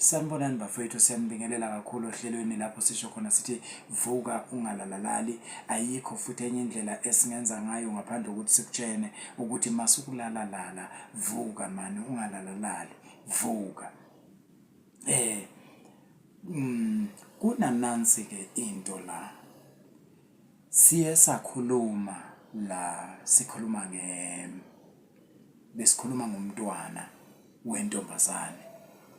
Sanibonani bafowethu siyanibingelela kakhulu ohlelweni lapho sisho khona sithi vuka ungalalalali ayikho futhi enye indlela esingenza ngayo ngaphandle kokuthi sikutshene ukuthi masukulala lala vuka mani ungalalalali vuka eh mm, kunanansi ke into la Siye sakhuluma la sikhuluma nge besikhuluma ngomntwana wentombazane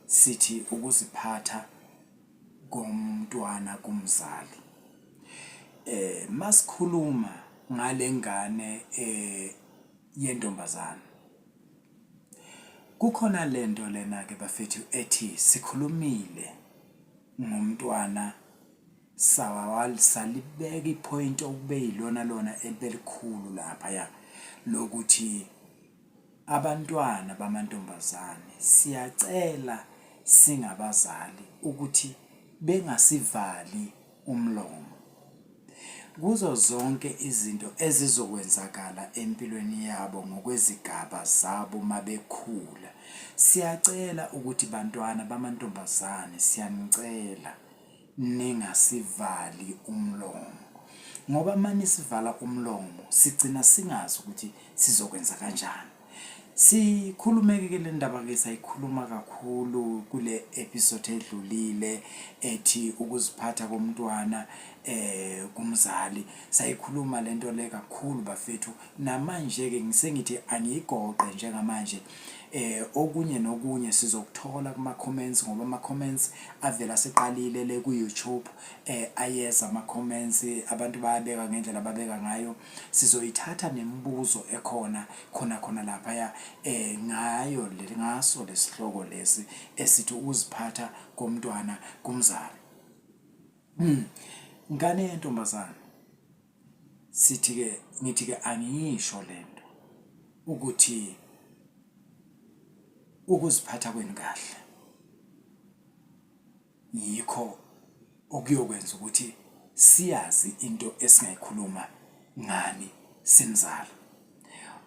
sithi ukuziphatha komntwana kumzali eh masikhuluma ngalengane eh yentombazane kukhona lento lena ke bafethu ethi sikhulumile ngomntwana Sawawal salibeka iphoyinti okube yilona lona elibelikhulu lapha ya lokuthi abantwana bamantombazane siyacela singabazali ukuthi bengasivali umlomo kuzo zonke izinto ezizokwenzakala empilweni yabo ngokwezigaba zabo mabekhula siyacela ukuthi bantwana bamantombazane siyanicela ningasivali umlomo ngoba manisivala umlomo sigcina singazi ukuthi sizokwenza kanjani sikhulumeke ke le ndaba ke sayikhuluma kakhulu kule episode edlulile ethi ukuziphatha komntwana eh kumzali sayikhuluma lento le kakhulu bafethu namanje ke ngisengithi angiyigoqe njengamanje eh okunye nokunye sizokuthola kuma comments ngoba ama comments avela seqalile le ku YouTube eh ayeza ama comments abantu bayabeka ngendlela babeka ngayo sizoyithatha nemibuzo ekhona khona khona lapha ya eh ngayo le ngaso lesihloko lesi esithi uziphatha komntwana kumzali hmm. ngane yentombazana sithi ke ngithi ke angiyisho lento ukuthi ukuziphatha kwenu kahle yikho okuyokwenza ukuthi siyazi into esingayikhuluma ngani simzala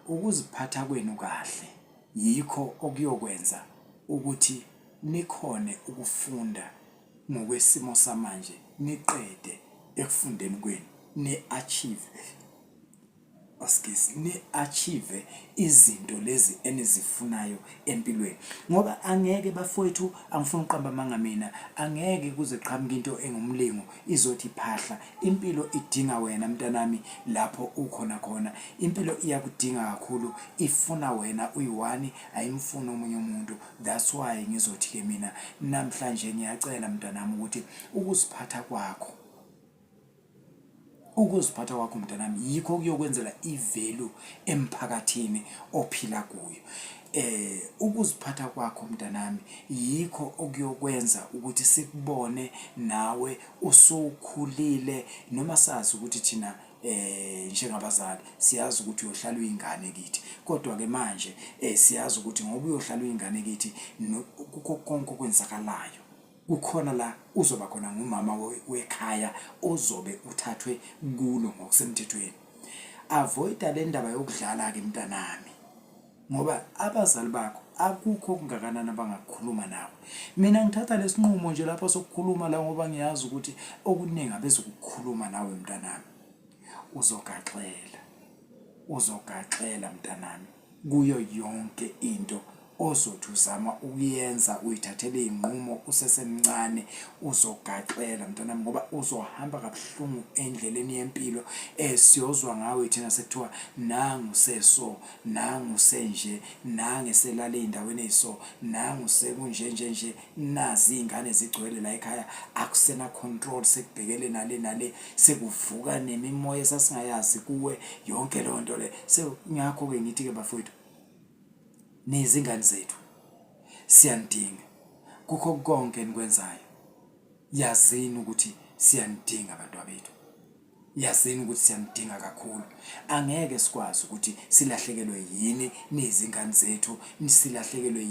ukuziphatha kwenu kahle yikho okuyokwenza ukuthi nikhone ukufunda ngokwesimo samanje niqede ekufundeni kwenu ni achieve askisi ni achieve izinto lezi enizifunayo empilweni ngoba angeke bafowethu angifuni uqamba amanga mina angeke kuze qhamuka into engumlingo izothi phahla impilo idinga wena mntanami lapho ukhona khona impilo iyakudinga kakhulu ifuna wena uyiwani ayimfuni omunye umuntu That's why ngizothi ke mina namhlanje ngiyacela mntanami ukuthi ukuziphatha kwakho ukuziphatha kwakho mntanami yikho kuyokwenzela ivalue emphakathini ophila kuyo eh ukuziphatha kwakho mntanami yikho okuyokwenza ukuthi sikubone nawe usukhulile noma sazi ukuthi thina eh njengabazali siyazi ukuthi uyohlala uyingane kithi kodwa ke manje eh siyazi ukuthi ngoba uyohlala uyingane kithi kukho konke okwenzakalayo kukhona la uzoba khona ngumama wekhaya ozobe uthathwe kulo ngokusemthethweni avoida le ndaba yokudlala ke mntanami ngoba abazali bakho akukho okungakanani abangakukhuluma nawe mina ngithatha lesinqumo nje lapha sokukhuluma la ngoba ngiyazi ukuthi okuningi abezokukhuluma nawe mntanami uzogaxela uzogaxela mntanami kuyo yonke into ozothi uzama ukuyenza uyithathele izinqumo usesemncane uzogaxela mntanami ngoba uzohamba kabuhlungu endleleni yempilo esiyozwa ngawe thina sekuthiwa nangu seso nangu senje, nange selale ey'ndaweni ey'so, nangu sekunje nje nje, nazi iy'ngane zigcwele la ekhaya, akusena-control, sekubhekele nale nale, sekuvuka nemimoya esasingayazi kuwe, yonke leyo nto le. Ngakho-ke ngithi-ke bafowethu, nizingane zethu, siyanidinga kukho konke enikwenzayo, yazini ukuthi siyanidinga bantwabethu. Yazini ukuthi siyamdinga kakhulu. Angeke sikwazi ukuthi silahlekelwe yini nizingane zethu, silahlekelwe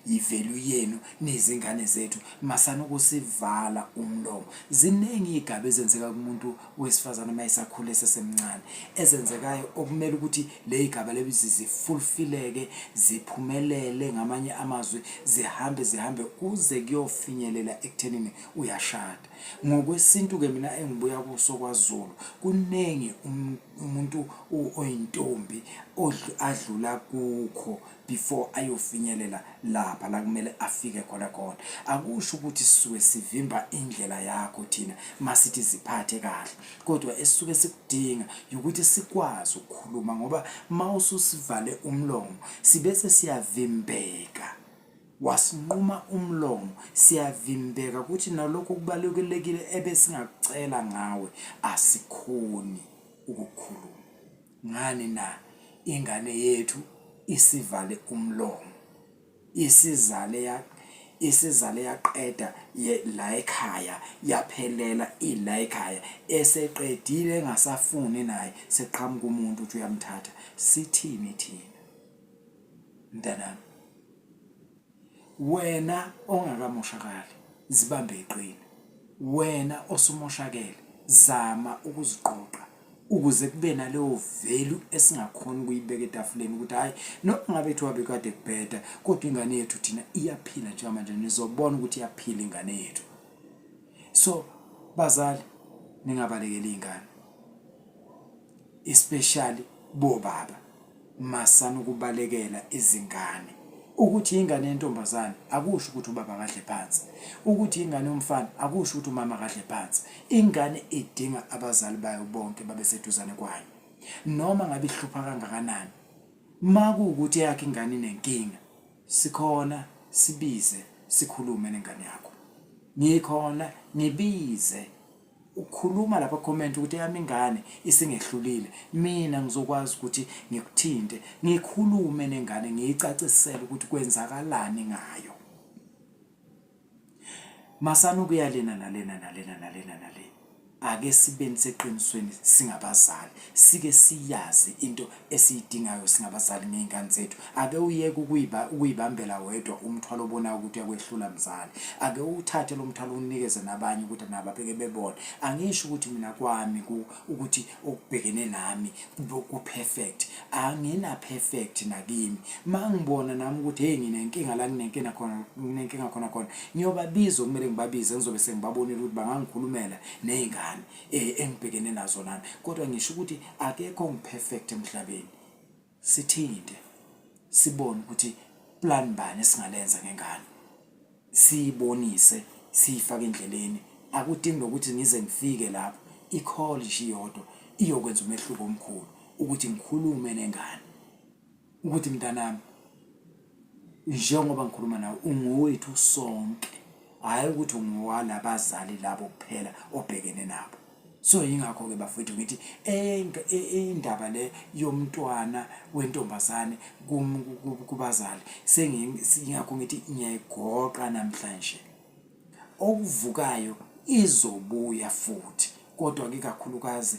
yivalue yenu nizingane zethu. Masana ukusivala umlomo. Ziningi iy'gaba ezenzeka kumuntu wesifazane uma esakhula esesemncane ezenzekayo okumele ukuthi le y'gaba lezi zifulfileke ziphumelele ngamanye amazwi zihambe zihambe kuze kuyofinyelela ekuthenini uyashada. Ngokwesintu-ke mina engibuya kuso kwaZulu kuningi um, umuntu oyintombi adlula kukho before ayofinyelela lapha la kumele afike khona khona. Akusho ukuthi sisuke sivimba indlela yakho thina masithi ziphathe kahle, kodwa esisuke sikudinga ukuthi sikwazi ukukhuluma ngoba mawususivale umlomo sibese siyavimbeka. Wasinquma umlomo, siyavimbeka ukuthi nalokho okubalulekile ebesingakucela ngawe asikhoni ukukhuluma. Ngani na? Ingane yethu isivale umlomo. Isizale ya isizale yaqeda la ekhaya yaphelela ila ekhaya eseqedile engasafuni naye seqhamuka umuntu uthi uyamthatha sithini thina mntanami wena ongakamoshakali zibambe iqini wena osumoshakele zama ukuziqoqa ukuze kube naleyo value esingakhona ukuyibeka etafuleni ukuthi hhayi noma ngabe kuthiwa bekade kubheda kodwa ingane yethu thina iyaphila njengamanje nizobona ukuthi iyaphila ingane yethu so bazali ningabalekeli iy'ngane especially bobaba Masani ukubalekela izingane. Ukuthi ingane yentombazane akusho ukuthi ubaba akadle phansi. Ukuthi ingane yomfana akusho ukuthi umama akadle phansi. Ingane idinga abazali bayo bonke babe seduzane kwayo. Noma ngabe ihlupha kangakanani. Makuwukuthi eyakhe ingane inenkinga, sikhona sibize sikhulume nengane yakho. Ngikhona ngibize Ukhuluma lapha comment ukuthi eyami ingane isingehlulile mina ngizokwazi ukuthi ngikuthinte ngikhulume nengane ngiyicacisele ukuthi kwenzakalani ngayo masana ukuyalena nalena nalena nalena nale ake sibeni seqinisweni singabazali sike siyazi into esiyidingayo singabazali ngey'ngane zethu ake uyeke ukuyibambela wedwa umthwalo obonayo ukuthi uyakwehlula mzali ake uwuthathe lo mthwalo uwunikeze nabanye ukuthi nabo abeke bebone angisho ukuthi mina kwami ukuthi okubhekene nami ku-perfect angina-perfect nakimi ma ngibona nami ukuthi heyi nginenkinga la nginenkinga khona nginenkinga khona khona ngiyobabiza okumele ngibabize ngizobe sengibabonile ukuthi bangangikhulumela ney'ngane eh, engibhekene nazo nami kodwa ngisho ukuthi akekho ongiperfect emhlabeni sithinte sibone ukuthi plan bani esingalenza ngengane siyibonise siyifake endleleni akudingi nokuthi ngize ngifike lapho i-call nje iyodwa iyokwenza umehluko omkhulu ukuthi ngikhulume nengane ukuthi mntanami njengoba ngikhuluma nawe ungowethu sonke hhayi ukuthi ungowalabazali labo kuphela obhekene nabo so yingakho-ke bafowethu ngithi indaba le yomntwana wentombazane kubazali sengiyingakho ngithi ngiyayigoqa namhlanje okuvukayo izobuya futhi kodwa-ke kakhulukazi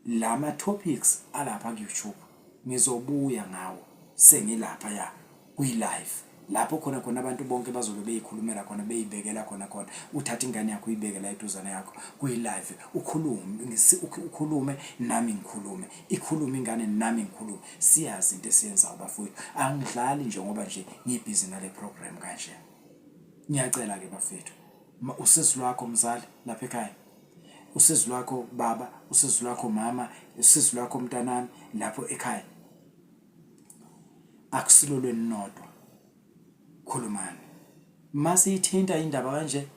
Lama topics alapha ku YouTube ngizobuya ngawo sengilapha ya kwi live lapho khona khona abantu bonke bazobe beyikhulumela khona beyibekela khona khona uthatha ingane yakho uyibeke la eduzane yakho kuyi-live ukhulume ukhulume nami ngikhulume ikhulume ingane nami ngikhulume siyazi into esiyenzayo bafowethu angidlali nje ngoba nje ngibhizi nale program kanje ngiyacela-ke bafethu usizi lwakho mzali lapha ekhaya usizi lwakho baba usizi lwakho mama usizi lwakho mntanami lapho ekhaya akusilo lweninodwa khulumani mase ithinta indaba kanje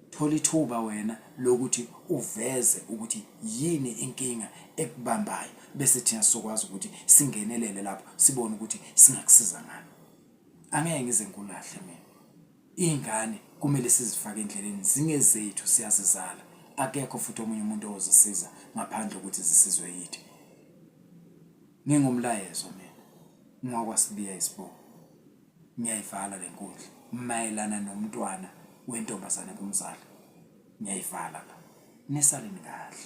thola ithuba wena lokuthi uveze ukuthi yini inkinga ekubambayo bese thina sizokwazi ukuthi singenelele lapho sibone ukuthi singakusiza ngani angeke ngize ngikulahle mina Iy'ngane kumele sizifake endleleni zingezethu siyazizala akekho futhi omunye umuntu ozisiza ngaphandle ukuthi zisizwe yithi. Ngingumlayezo mina ngwakwasibiya isibongo ngiyayivala le nkundla mayelana nomntwana wentombazane kumzali ngiyayivala la nisaleni kahle